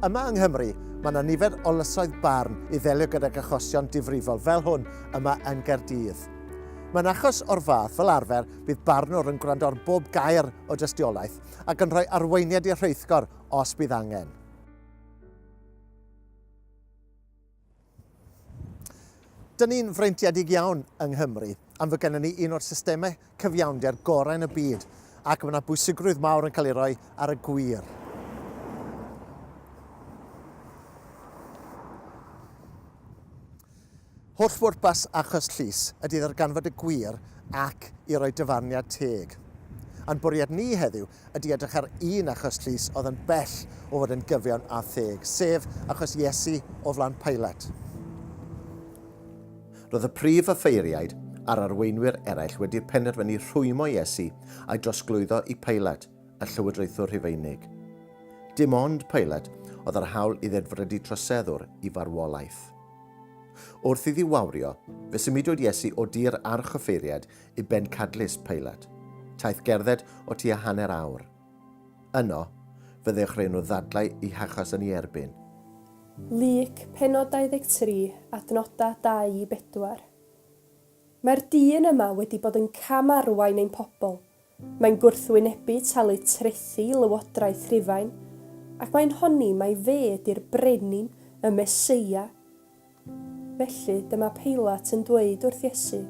Yma yng Nghymru, mae yna nifer o lysoedd barn i ddelio gydag achosion difrifol fel hwn yma yn Gaerdydd. Mae'n achos o'r fath, fel arfer, bydd barnwr yn gwrando ar bob gair o dystiolaeth ac yn rhoi arweiniad i'r rheithgor os bydd angen. Dyn ni'n freintiedig iawn yng Nghymru am fod gennym ni un o'r systemau cyfiawnder gorau yn y byd ac mae yna bwysigrwydd mawr yn cael ei roi ar y gwir. Holl bwrpas achos Llys ydy ddarganfod y gwir ac i roi dyfarniad teg. A'n bwriad ni heddiw ydy edrych ar un achos Llys oedd yn bell o fod yn gyfiawn a theg, sef achos Iesu o flaen Pilate. Roedd y prif offeiriaid a'r arweinwyr eraill wedi penderfynu rhwymo Iesu a'i drosglwyddo i Pilate, y Llywodraethwr Rhufeinig. Dim ond Pilate oedd â'r hawl i ddedfrydu troseddwr i farwolaeth. Wrth iddi wawrio, fe symudwyd Iesu o dir archoffeiriad i bencadlys Pilate, taith gerdded o tua hanner awr. Yno, fe ddechreu nhw ddadlau i hachos yn ei erbyn. Luc, pennod 23, adnodau 2 i 4. Mae'r dyn yma wedi bod yn cam-arwain ein pobl, Mae'n gwrthwynebu talu trethi i lywodraeth Rhufain, ac mae'n honni mai fe ydy'r brenin, y Meseia. Felly, dyma Peilat yn dweud wrth Iesu,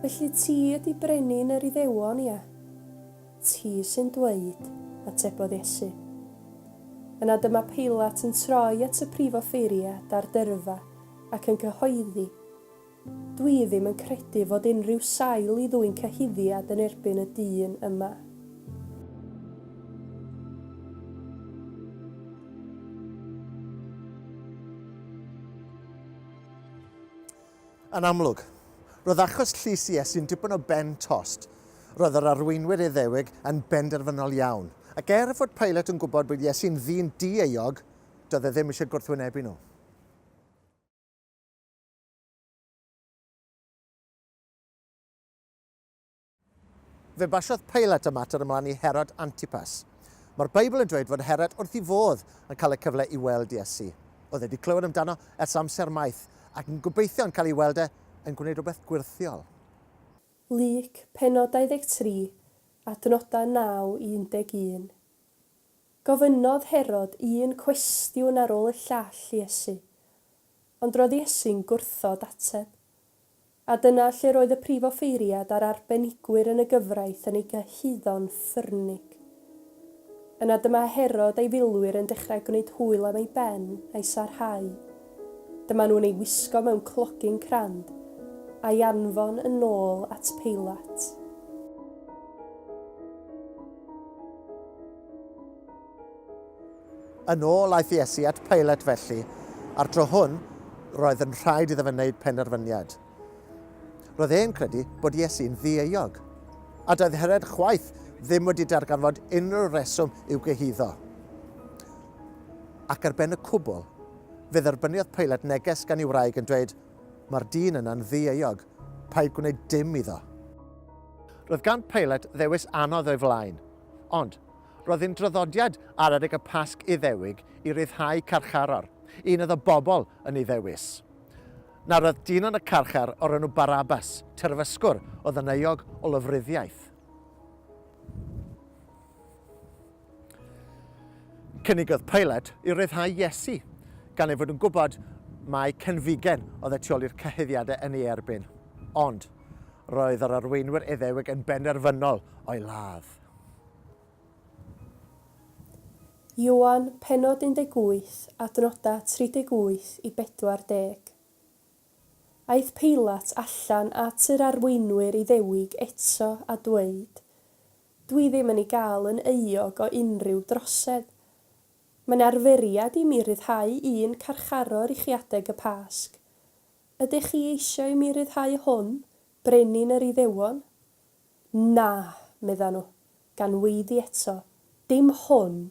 Felly ti ydy brenin yr Iddewon, ia? Ti sy'n dweud, atebodd Iesu. Yna dyma Peilat yn troi at y prif offeiriad a'r dyrfa ac yn cyhoeddi, Dwi ddim yn credu fod unrhyw sail i ddwyn cyhuddiad yn erbyn y dyn yma. Yn amlwg, roedd achos llys Iesu'n dipyn o ben tost. Roedd yr arweinwyr Iddewig yn benderfynol iawn, ac er fod Pilate yn gwybod bod Iesu'n ddyn di-euog, doedd e ddim eisiau gwrthwynebu nhw. Fe basiodd Pilate y mater ymlaen i Herod Antipas. Mae'r Beibl yn dweud fod Herod wrth i fodd yn cael y cyfle i weld Iesu. Oedd wedi clywed amdano ers amser maith ac yn gobeithio yn cael ei weld e yn gwneud rhywbeth gwyrthiol. Luc, pennod 23, adnodau 9 i 11. Gofynnodd Herod un cwestiwn ar ôl y llall i Iesu, Ond roedd Iesu'n gwrthod ateb. A dyna lle roedd y prif offeiriad a'r arbenigwyr yn y gyfraith yn ei gyhuddo'n ffyrnig. Yna dyma Herod a'i filwyr yn dechrau gwneud hwyl am ei ben a'i sarhau. Dyma nhw'n ei wisgo mewn clogyn crand, a'i anfon yn ôl at Peilat. Yn ôl aeth Iesu at Peilet felly, a'r tro hwn, roedd yn rhaid iddo fe wneud penderfyniad. Roedd e'n credu bod Iesu'n ddieuog, a doedd Herod chwaith ddim wedi darganfod unrhyw reswm i'w gyhuddo. Ac ar ben y cwbl, fe dderbyniodd Peilet neges gan ei wraig yn dweud, Mae'r dyn yna'n ddieuog, paid gwneud dim iddo. Roedd gan Peilet ddewis anodd o'i flaen, ond Roedd yn draddodiad ar adeg y Pasg Iddewig i ryddhau carcharor, un iddo bobl yn ei ddewis. Nawr roedd dyn yn y carchar o'r enw Barabbas, terfysgwr oedd yn euog o lofruddiaeth. Cynigodd Pilate i ryddhau Iesu, gan ei fod yn gwybod mai cenfigen oedd y tu ôl i'r cyhuddiadau yn ei erbyn. Ond, roedd yr arweinwyr Iddewig yn benderfynol o'i ladd. Ioan, pennod 18, adnodau 38 i 40. Aeth Peilat allan at yr arweinwyr Iddewig eto a dweud, Dwi ddim yn ei gael yn euog o unrhyw drosedd. Mae'n arferiad i mi ryddhau un carcharor i chi adeg y Pasg. Ydych chi eisiau i mi ryddhau hwn, brenin yr Iddewon? Na, medda nhw, gan weiddi eto, dim hwn,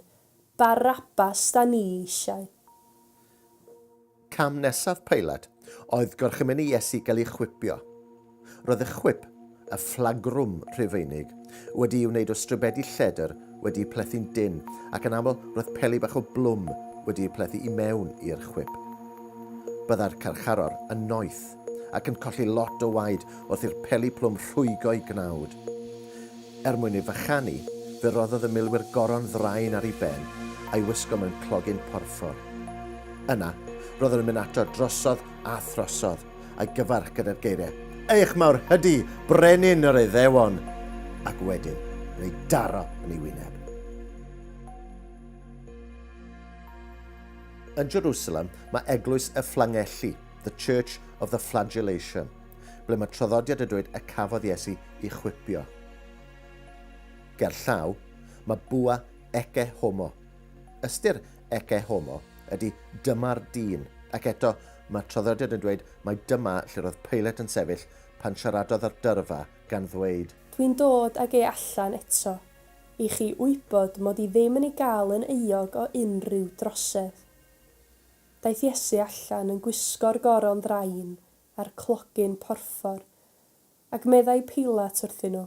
Barabbas 'da ni eisiau. Cam nesaf Peilat oedd gorchymyn i Iesu gael ei chwipio. Roedd y chwip, y fflagrwm Rhufeinig, wedi'i wneud o stribedi lledr wedi'u plethu'n dynn ac yn aml roedd peli bach o blwm wedi'u plethu i mewn i'r chwip. Byddai'r carcharor yn noeth. ac yn colli lot o waed wrth i'r peli plwm rhwygo'i gnawd. Er mwyn ei fychanu, fe roddodd y milwyr goron ddraen ar ei ben a'i wisgo mewn clogyn porffor. Yna, roeddwn yn mynd ato drosodd a throsodd, a'i gyfarch gyda'r geiriau, Eich mawr hydy, brenin yr Iddewon! ac wedyn yn ei daro yn ei wyneb. Yn Jerusalem mae eglwys y Fflangelli, The Church of the Flagellation, ble mae traddodiad y dweud y cafodd Iesu i chwipio. Ger llaw, mae bwa ecce homo. Ystyr ecce homo ydy dyma'r dyn, ac eto mae traddodiad yn dweud mai dyma lle roedd Peilet yn sefyll pan siaradodd â'r dyrfa gan ddweud, Dwi'n dod ag e allan eto, i chi wybod mod i ddim yn ei gael yn euog o unrhyw drosedd. Daeth Iesu allan yn gwisgo'r goron ddrain a'r clogyn porffor, ac meddai Peilat wrthyn nhw,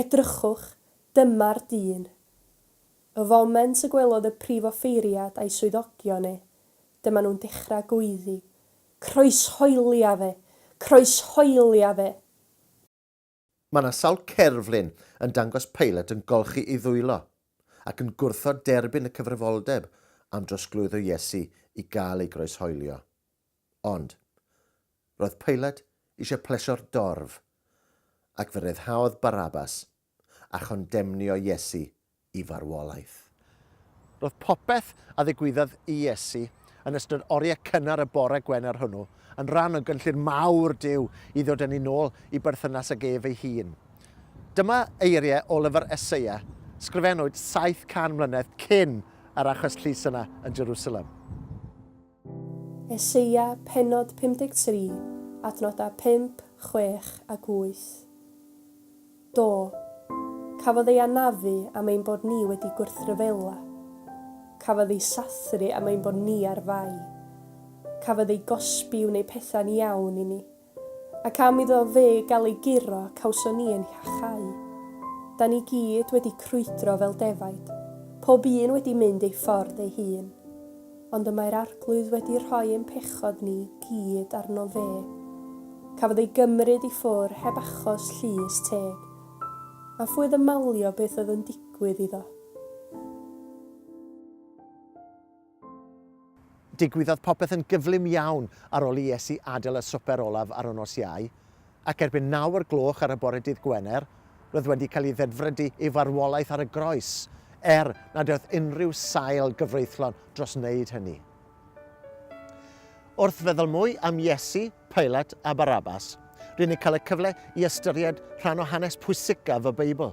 Edrychwch, dyma'r dyn! Y foment y gwelodd y prif offeiriad a'i swyddogion e, dyma nhw'n dechrau gweiddi, Croeshoelia fe! Croeshoelia fe! Mae yna sawl cerflun yn dangos pilot yn golchi ei ddwylo ac yn gwrthod derbyn y cyfrifoldeb am drosglwyddo Iesu i gael ei groeshoelio. Ond, roedd pilot eisiau plesio'r dorf, ac fe ryddhaodd Barabas a chondemnio Iesu i farwolaeth. Roedd popeth a ddigwyddodd i Iesu yn ystod oriau cynnar y bore Gwener hwnnw yn rhan o gynllun mawr Duw i ddod â ni'n ôl i berthynas ag ef ei hun. Dyma eiriau o lyfr Eseia, sgrifennwyd 700 mlynedd cyn yr achos llys yna yn Jerusalem. Eseia, pennod 53, adnodau 5, 6 ac 8. Do, cafodd ei anafu am ein bod ni wedi gwrthryfela. Cafodd ei sathru am ein bod ni ar fai. Cafodd ei gosbi i wneud pethau'n iawn i ni. Ac am iddo fe gael ei guro, cawson ni ein hiachau. Da ni gyd wedi crwydro fel defaid, pob un wedi mynd ei ffordd ei hun. Ond y mae'r Arglwydd wedi rhoi ein pechod ni gyd arno fe. Cafodd ei gymryd i ffwr heb achos llys teg. A phwy oedd yn malio beth oedd yn digwydd iddo? Digwyddodd popeth yn gyflym iawn ar ol i Iesu adael y swper olaf ar y nos Iau, ac erbyn naw o'r gloch ar y bore dydd Gwener, roedd wedi cael ei ddedfrydu ei farwolaeth ar y groes, er nad oedd unrhyw sail gyfreithlon dros wneud hynny. Wrth feddwl mwy am Iesu, Pilate a Barabbas, rŷn ni'n cael y cyfle i ystyried rhan o hanes pwysicaf y Beibl.